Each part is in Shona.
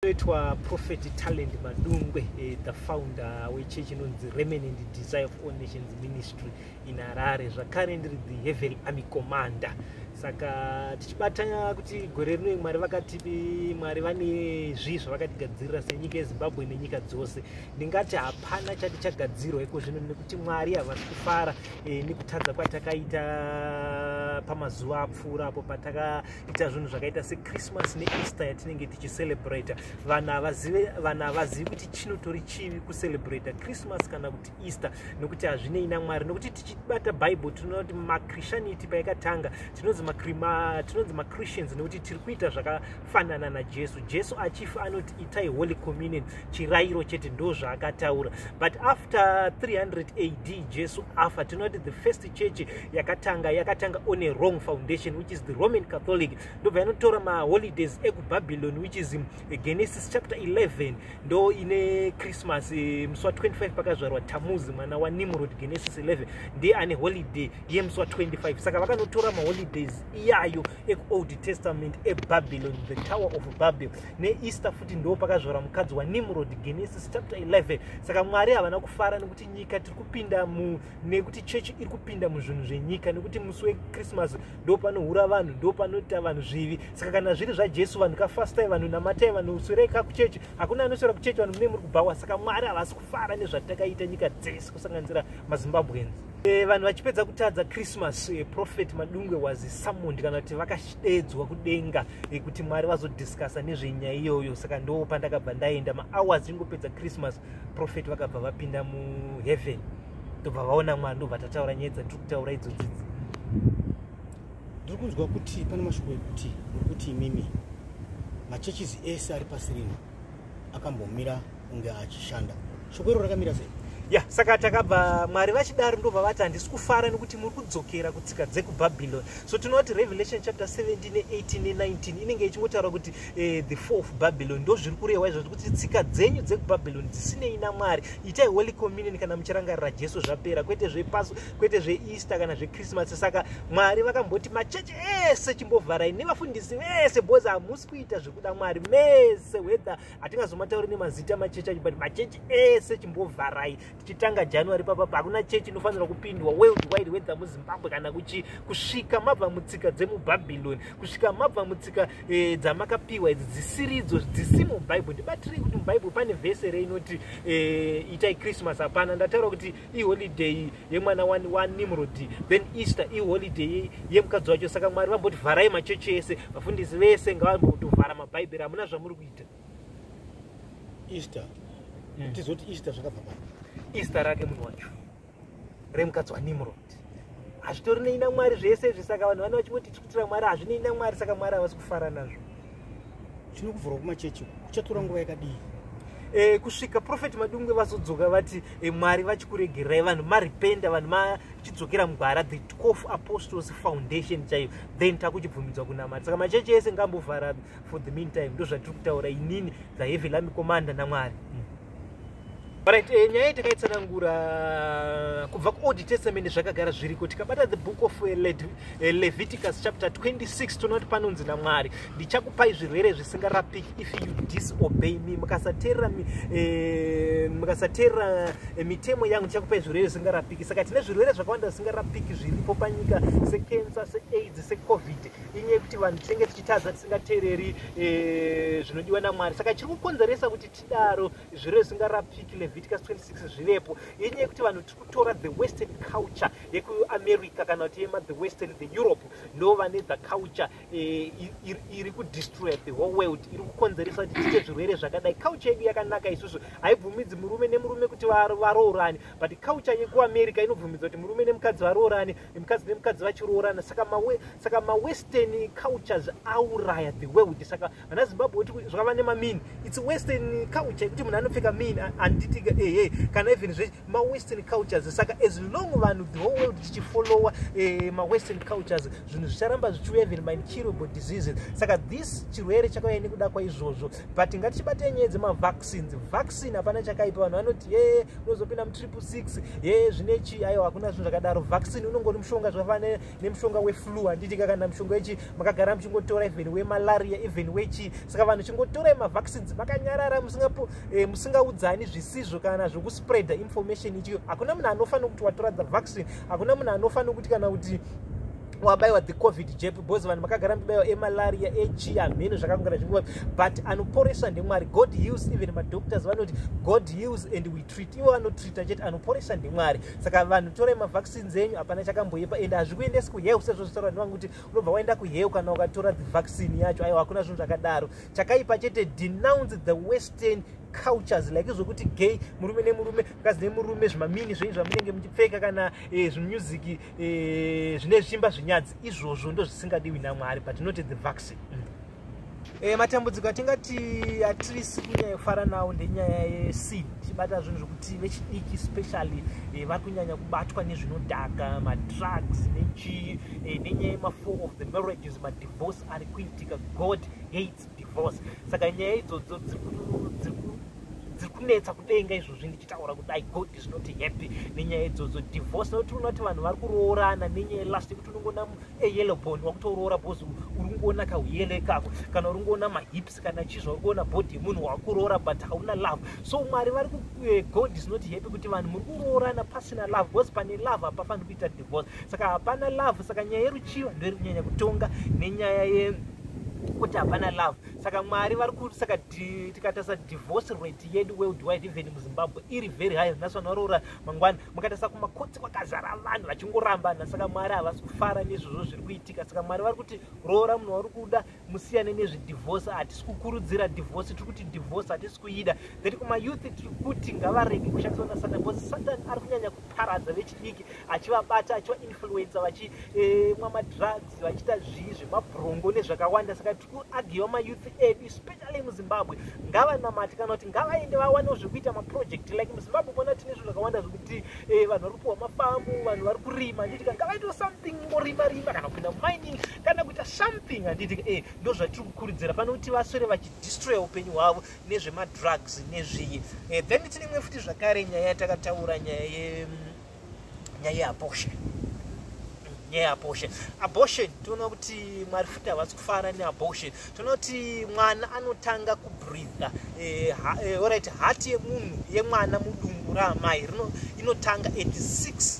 inoitwa prophet talent madungwe eh, the founder wechechi inonzi remanent desire of all nations ministry in harare zvakare ndiri the hevel army commander saka tichibata kuti gore rino mwari vakati mwari vane zvii zvavakatigadzirira senyika yezimbabwe nenyika dzose ndingati hapana chati chagadzirwa iko zvino nekuti mwari havasi kufara eh, nekutadza kwatakaita pamazuva apfuura apo pataka ita zvinhu zvakaita sechristmas neeaster yatinenge tichicelebrata vanhu havazive vanhu havazivi kuti chinotori chivi kucelebrata christmas kana kuti easter nokuti hazvinei namwari nokuti tichibata bible tinoona kuti machristianity payakatanga tinonzi tinonzi machristians nekuti tiri kuita zvakafanana najesu jesu achifa anoti itai holy communion chirayiro chete ndo zvaakataura but after 300 ad jesu afa tinoti the first church yakatanga yakatanga on a wrong foundation which is the roman catholic ndobva yanotora maholidays ekubabylon which is um, genesis chapter 11 ndo ine christmas eh, musi wa 25 pakazvarwa tamuzi mwana wanimrod genesis 11 ndiye ane holiday yemusi wa 25 saka vakanotora maholidays iyayo ekuold testament ebabylon the tower of babel neeaster futi ndo pakazvora mukadzi wanimrod genesis chapter 11 saka mwari havana kufara nekuti nyika tiri kupinda mu nekuti chechi iri kupinda muzvinhu zvenyika nekuti musi wechristmas ndo panohura vanhu ndo panoita vanhu zvivi saka kana zviri zvajesu vanhu kafastai vanhu namatai vanhu swerei ka kuchechi hakuna anoswera kuchechi vanhu mune muri kubhawa saka mwari havasi kufara nezvatakaita nyika dzese kusanganisira mazimbabweans Eh, vanhu vachipedza kutadza christmas eh, prophet madungwe was summoned kana kuti vakadedzwa kudenga eh, kuti mwari vazodiscussa nezvenyaya iyoyo saka ndo pandakabva ndaenda mahours ingopedza christmas prophet vakabva vapinda muheaven ndobva vaona mwari ndobva tataura nyaya dzandiri kutaura idzodzi ndiri kunzwa kuti pane mashoko ekuti uri kuti imimi machurches ese ari pasi rino akambomira kunge achishanda shoko iro rakamira sei ya saka takabva mwari vachidaro ndobva vati handisi kufara nekuti muri kudzokera kutsika dzekubhabhiloni so tinoti revelation chapter 17 ne18 ne19 inenge ichingotaura kuti eh, the four of babylon ndo zviri kurehwa izvo zvekuti tsika dzenyu dzekubhabhiloni dzisinei namwari itai holy communion kana muchirangarira jesu zvapera kwete zvepaso kwete zveeaster kana zvechristmas saka mwari vakamboti machechi ese chimbovharai nevafundisi vese bhozi hamusi kuita zvekuda mwari mese whether hatingazomatauri nemazita machechi acho but machechi ese chimbovharai tichitanga january papapa hakuna chechi inofanirwa kupindwa world wide whether muzimbabwe kana kuchi kusvika mabva mutsika dzemubhabhiloni kusvika mabva mutsika e, dzamakapiwa idzi dzisiridzo dzisimo mubhaibheri ndibatirei kuti mubhaibheri pane vhese reinoti e, eh, itai christmas hapana ndataura kuti iholiday yemwana wani wanimrodi then easter iholiday yemukadzi wacho saka mwari vamboti vharai machechi ese vafundisi vese ngavambotovhara mabhaibheri hamuna zvamuri kuita easter hmm. tizoti easter zvakabva pai easter rake munhu wacho remukadzi wanimrodi hazvitori nei namwari zvese izvi saka vanhu vane vachingoti tiri kutira mwari hazvinei namwari saka mwari havasi kufara nazvo chino kuvhurwa kumachechi kuchatora nguva yakadii E, kusvika profeti madungwe vazodzoka vati e, mwari vachikuregerai vanhu maripenda vanhu machidzokera mugwara the 12 apostles foundation chaiyo then takuchibvumidzwa kunamari saka machechi ese ngambovhara for the meantime ndozvatiri kutaura inini the heavy lami commander namwari mm. Right, eh, nyaya takaitsanangura uh, kubva kuold testament zvakagara zviriko tikabata the book of uh, Le uh, leviticus chapter 26 tonoti panonzi namwari ndichakupai zvirwere zvisingarapiki if you disobey me mukasateerera eh, mukasateerera eh, mitemo yangu ndichakupai zvirwere zvisingarapiki saka tine zvirwere zvakawanda zvisingarapiki zviripo panyika sekensa seaids secovid inyaya yekuti vanhu tinenge tichitadza tisingateereri eh, zvinodiwa namwari saka chiri kukonzeresa kuti daro zvirwere zvisingarapiki leviticus 26 zvivepo yenyaya yekuti vanhu tiri kutora the western culture yekuamerica kana kuti yema the western the europe ndo vane the culture eh, iri kudestroya the whole world iri kukonzeresa kuti tiite zvirwere zvakadai culture yedu yakanaka isusu haibvumidzi murume nemurume kuti varoorane but culture yekuamerica inobvumidza kuti murume nemukadzi varoorane nemukadzi nemukadzi vachiroorana saka mawestern cultures auraya the world saka ana zimbabwe oti zvakava nemamin its western culture yekuti munhu anopfeka min anditika ehe kana even zve mawestern cultures saka as long vanhu the whole world tichifollowa eh, mawestern cultures zvinhu zvicharamba zvichiuya even mincurable diseases saka this chirwere chakauya nekuda kwaizvozvo but ngatichibatei nyaya dzemavaccines vaccine hapana chakaipa vanhu vanoti ye unozopinda mutriple six ye zvinechi aiwa hakuna zvinhu zvakadaro vaccine unongori mushonga zvakafanira nemushonga weflu handiti ka kana mushonga wechi makagara muchingotora even wemalaria even wechi saka vanhu chingotorai mavaccines makanyarara musingapo eh, musingaudzani zvisizvo kana zvekuspreada information ichiyo hakuna munhu anofa nokuti watora the vaccine hakuna munhu anofa nokuti kana kuti wabaiwa the covid jep bcause vanhu makagara mibaiwa emalaria echi hamheno zvakakungana zvinguva but anoporesa ndemwari god heals even madoctors vanoti god heals and we treat ivo anotreata chete anoporesa ndemwari saka vanhu torai mavaccines enyu hapana chakamboipa ende hazvikuendesi kuheu sezvo zvitaura nevangu kuti unobva waenda kuheu kana ukatora the vaccine yacho aiwa hakuna zvinhu zvakadaro chakaipa chete denounce the western cultures like zvokuti gay murume nemurume mukadzi nemurume zvimamini zvenyu zvamunenge muchipfeka kana eh, zvimusic eh, zvine zvimba zvinyadzi izvozvo ndozvisingadiwi namwari but not the vaccine mm. e, matambudziko atingati atirisi kunyanya kufara nawo ndenyaya yeseed chibata zvinhu zvekuti vechidiki specially e, eh, vari kunyanya kubatwa nezvinodhaka madrugs nechii e, eh, nenyaya yemafour of the marriages madivorce ari kuitika god hates divorce saka nyaya idzodzo dziri dziri kunetsa kudenga izvozvi ndichitaura kuti i god is not happy nenyaya idzodzo divorce nokuti unoti vanhu vari kuroorana nenyaya last yekuti unongona eyellow bone wakutoroora bhozi uri kungoona kauyele ikako kana uri kungoona mahips kana chii zvauri kuona body yemunhu wakuroora but hauna love so mwari vari eh, god is not happy kuti vanhu muri kuroorana pasina love because pane love hapafaniri kuita divorce saka hapana love saka nyaya yeruchiva ndoiri kunyanya kutonga nenyaya ye kuti hapana love saka mwari vari kuti saka tikatarisa divorce rate yedu worldwide even muzimbabwe iri very high nhasi vanhu varoora mangwana mukatarisa kumakotsi kwakazara vanhu vachingorambana saka mwari havasi kufara nezvozvo zviri kuitika saka mwari vari kuti roora munhu wauri kuda musiyane nezvedivorce hatisi kukurudzira divorce tiri kuti divorce hatisi kuida that kumayouth tiri kuti ngavarege kushandiswa nasatan bcause satan ari kunyanya kuparadza vechidiki achivabata achivainfluencer vachimwa eh, madrugs vachiita zvii zvemabrongo nezvakawanda saka kuagiwa mayouth edu especially muzimbabwe ngavanamati kana kuti ngavaende vawanewo zvekuita maproject like muzimbabwe mona tine zvinhu zvakawanda zvekuti eh, vanhu vari kupiwa mafamu vanhu vari kurima handitika ngavaitewo something morima rima kana kuenda mining kana kuita something handitika e eh, ndo zvatiri kukurudzira pane kuti vaswere vachidistroya upenyu hwavo nezvemadrugs nezviyi e eh, then tine imwe futi zvakare nyaya yatakataura nyaya ye mm, nyaya yeabortion nyaya yeabortion abortion tinoona kuti mwari futi havasi kufara neabortion tinoona kuti mwana anotanga kubreatha eh, eh, orit hati yemunhu yemwana mudumbu raamai inotanga 86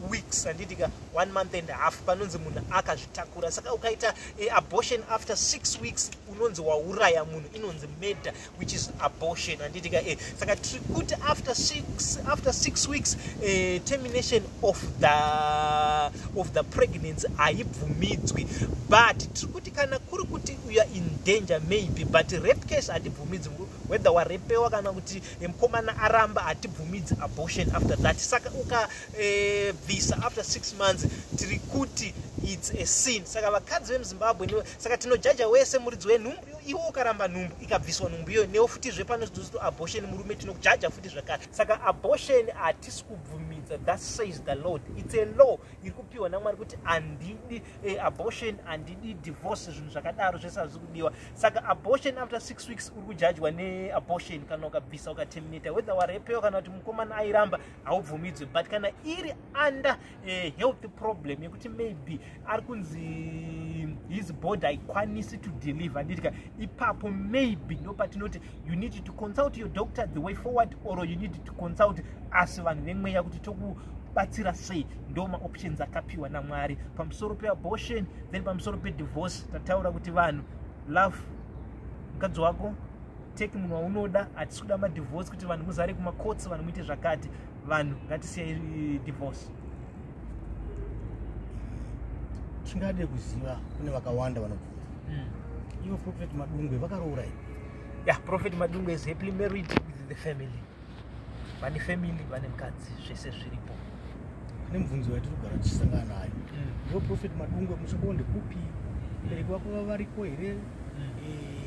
weeks handiti ka one month and half panonzi munhu akazvitakura saka ukaita eh, abortion after six weeks unonzi wauraya munhu inonzi meda which is abortion handiti ka e saka tiri kuti after six, after six weeks uh, termination of the, of the pregnancy haibvumidzwi but tiri kuti kana kuri kuti uya in danger maybe but rape case hatibvumidzwi whether warepewa kana kuti eh, mukomana aramba hatibvumidzi abortion after that saka ukabvisa eh, uh, after six months tiri kuti its a sin saka vakadzi vemuzimbabwe saka tinojaja wese muridzi wenhumbu iwe ukaramba nhumbu ikabviswa nhumbu iyoyo newo futizve pano zidozito abortion murume tinokujaja futi zvakare saka abortion hatisi kubvumidza that says the lord its a law iri kupiwa namwari kuti handidi eh, abortion handidi divorce zvinhu zvakadaro zvese hazvisi kudiwa saka abortion after six weeks uri kujajwa neabortion kana ukabvisa ukaterminata whether warepewa kana kuti mukomana airamba haubvumidzwe but kana iri under eh, health problem yekuti maybe ari kunzi his body haikwanisi to deliver nditika ipapo maybe ndopatinoti you need to consult your doctor the way forward or you need to consult asi vanhu vemweya kuti toku batsira sei ndo maoptions akapiwa namwari pamusoro peabortion then pamusoro pedivorce tataura kuti vanhu love mukadzi wako take munhu waunoda hatisi kuda madivorce kuti vanhu muzare kumacourts vanhu muite zvakati vanhu ngatisiye divorce tingade kuziva kune vakawanda vanobvunza hmm. ivo prophet madungwe vakaroora i ya prophet madungwe is happily married with the family vane family vane mukadzi zvese zviripo kune mubvunzo yatiri kugara tichisangana nayo hmm. ivo prophet madungwe musoko ndekupi bereki vako vavariko here hmm. eh,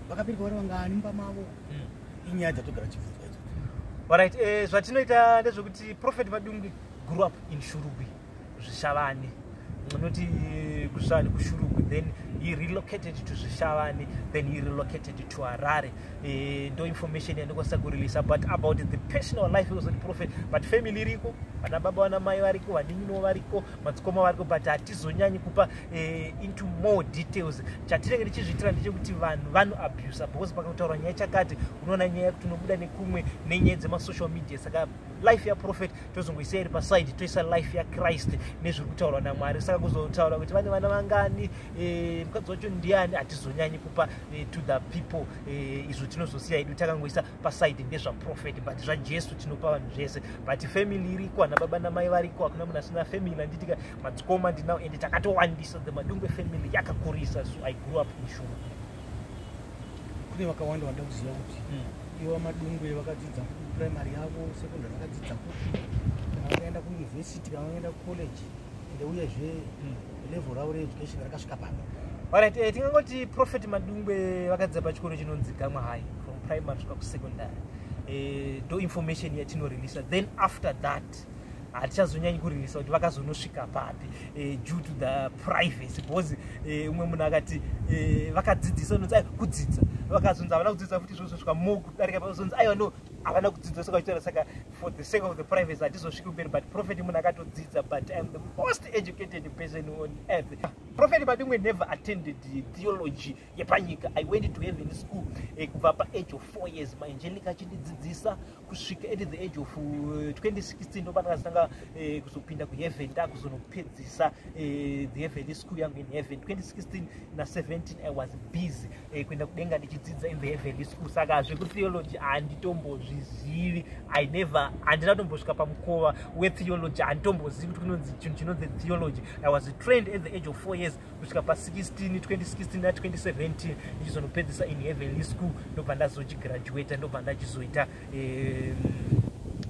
vakabereka vari vangani mumba mavo hmm. inyaya dzatogara chibvunzwa idzo orit eh, zvatinoita ndezvekuti profet madungwi grew up in shurugwi zvishavane anoti eh, kusvani kushurugwi then he relocated to zvishavane then he relocated to harare eh, ndo information yandikwanisa kureleasa but about the personal life was the prophet but family iriko vana baba vana mai variko vaninino variko madzikoma variko but hatizonyanyi kupa eh, into more details chatinenge tichizviitira ndechekuti vanhu vano abusa because pakataura nyaya chakati unoona nyaya yekuti unobuda nekumwe nenyaya dzemasocial media saka life yaprofet tozongoisa iri paside toisa life yachrist nezviri kutaurwa namwari saka kuzotaura kuti vane vana vangani eh, mukadzi wacho ndiani hatizonyanyi kupa eh, to the people eh, izvo tinozosiya idu takangoisa paside ndezvaprofet but zvajesu tinopa vanhu zvese but family iriko ana baba namai variko hakuna munhu asina family anditika madzikoma ndinawo ende takatowandisa the madungwe family yakakurisa so i grew up mushuma kune vakawanda vanda kuziva kuti hmm. iwa madungwe vakadzidza kuprimary yavo secondary vakadzidza kupi kana vakaenda kuuniversity kana vakaenda kucollege ende uyezve hmm. level ravo reeducation rakasvika pano orit eh, tingangoti prophet madungwe vakadzidza pachikoro chinonzi gamwa high from primary svika kusecondary eh, do information yatinorelisa then after that hatichazonyanyi kurerisa kuti vakazonosvika papi eh, due to the privacy because eh, umwe munhu akati eh, vakadzidzisa unonzi ai kudzidza vakazonzi havana kudzidza futi zvozosvika mo kudarika pazonzi aiwa no havana kudzidza saka vachitaura saka for the sake of the privacy hatizosviki kumberi but prophet munhu akatodzidza but iam the most educated person on earth prophet madimwe never attended theology yepanyika i went to heaven school eh, kubva pa age of four years maangelica achindidzidzisa kusvika at the age of 2016 eh, ndopanakazitanga eh, kuzopinda kuheaven ndakuzonopedzisa the heaven school yangu in heaven 2016 na 17 i was busy eh, kuenda kudenga ndichidzidza in the heavenly school saka zvekutheology handitombozvizivi i never handina kutombosvika pamukova wetheology handitombozivi kuti kunonzi chinhu chinonzi theology i was trained at the age of four years kusvika pa16 2016 na 2017 ndichizonopedzisa in heavenly school ndobva ndazochigraduata ndobva ndachizoita eh,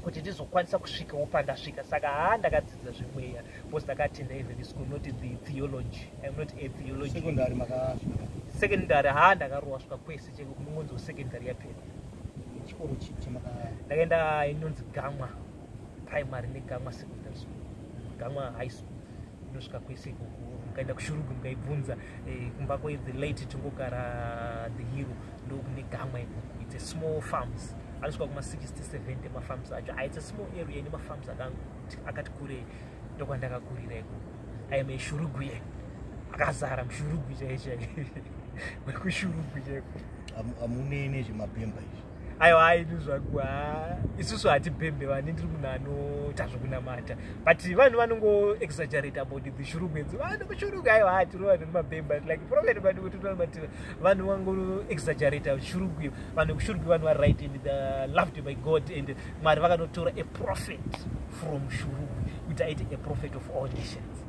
kuti ndizokwanisa kusvikawo pandasvika saka haa ndakadzidza zvemweya Because ndakatenda even school not the theology. I'm not a theology. Secondary maka secondary ha ndakarowa svika kwese cheko kumunzi secondary yapera. Chikoro chipi maka ndakaenda inonzi Gamwa primary ne Gamwa secondary school. Gamwa high school. Ndosvika kwese ikoko mukaenda kushurugu mukaibvunza eh, kumba kwe the late tongogara the hero ndokune Gamwa ikoko. It's a small farms. Anosvika kuma 60 70 mafarms acho. Ah, it's a small area ine mafarms akangu. akati kurei ndokwandakakurira ikoko aime shurugwi akazara mushurugwi chai chai wekushurugwi chaiko amunei nezvemabhemba izvi aiwa aini zvaku isusu hatibhembe vani ndiri munhu anoita zvekunamata but vanhu vanongoexaggerate about the shurugwi edzi vanhu kushurugwi aiwa hatiri vanhu nemabhemba like problem vanhu kuti tinomatira vanhu vangoexaggerate shurugwi vanhu kushurugwi vanhu varight and the loved by god and mwari vakanotora a prophet from shuru kuti aite a prophet of all nations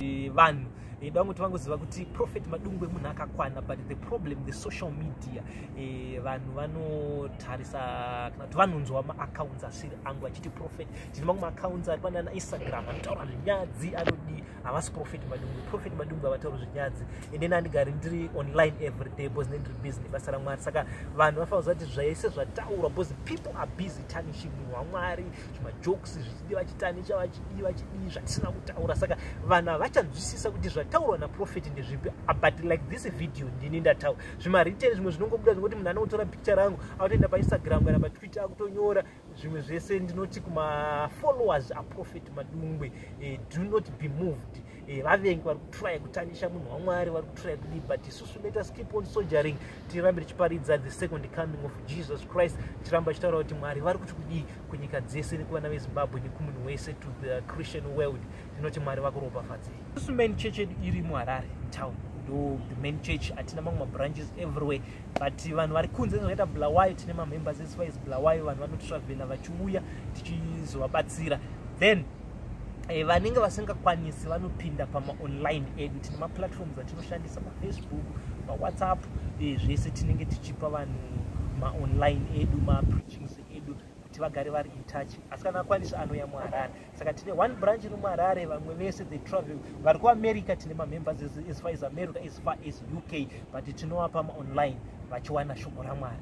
e, vanhu e, vamwe kuti vangoziva kuti prophet madungwe munhu akakwana but the problem the social media e, vanhu vanotarisa kana kuti vanonzwa maaccounts asiri angu achiti prophet tine mamwe maaccounts ari panana instagram anotaura zvinyadzi anodii havasi profet madungu profet madungu havatauri zvinyadzi and then andigari ndiri online every day bcause ne ndiri busy nebasa ramwari saka vanhu vafana kuziva kuti zvaise zvataurwa bcause people are busy tarnishing munhu wamwari zvimajokes zvichidi vachitanisha vachidii vachidii zvatisina kutaura saka vanhu havachanzwisisa kuti zvataurwa naprofet ndezvipi ah, but like this video ndini ndataura zvimariten zvimwe zvinongobuda zvinoti munhu anokutora picture rangu akutoenda painstagram kana patwitter akutonyora zvimwe zvese ndinoti kumafollowers aprophet madungwe eh, do not be moved eh, vavengi vari kutraya kutanyisha munhu wamwari vari kutraya kudii but isusu let us keep on sogering tirambe tichiparidza the second coming of jesus christ tiramba tichitaura kuti mwari vari kuti kudii kunyika dzese nekuvana vezimbabwe nekumunhu wese to the christian world tinoti mwari vakuropafadzei isusu main church yedu iri muharare town ndo the main church hatina mamwe mabranches everywhere but vanhu vari kunze zvakaita blawai tine mamembers eswise blawai vanhu vanotravela vachiuya tichizovabatsira then eh, vanenge vasingakwanisi vanopinda pamaonline edu tine maplatforms atinoshandisa pafacebook pawhatsapp eh, zvese tinenge tichipa vanhu maonline edu mapreachings edu kuti vagare vari intouch asi kana akwanisa anouya muharare saka tine one branch iri muharare vamwe vese they travel vari kuamerica tine mamembers as far as america as far as uk but tinovapa maonline vachiwana shoko ramwari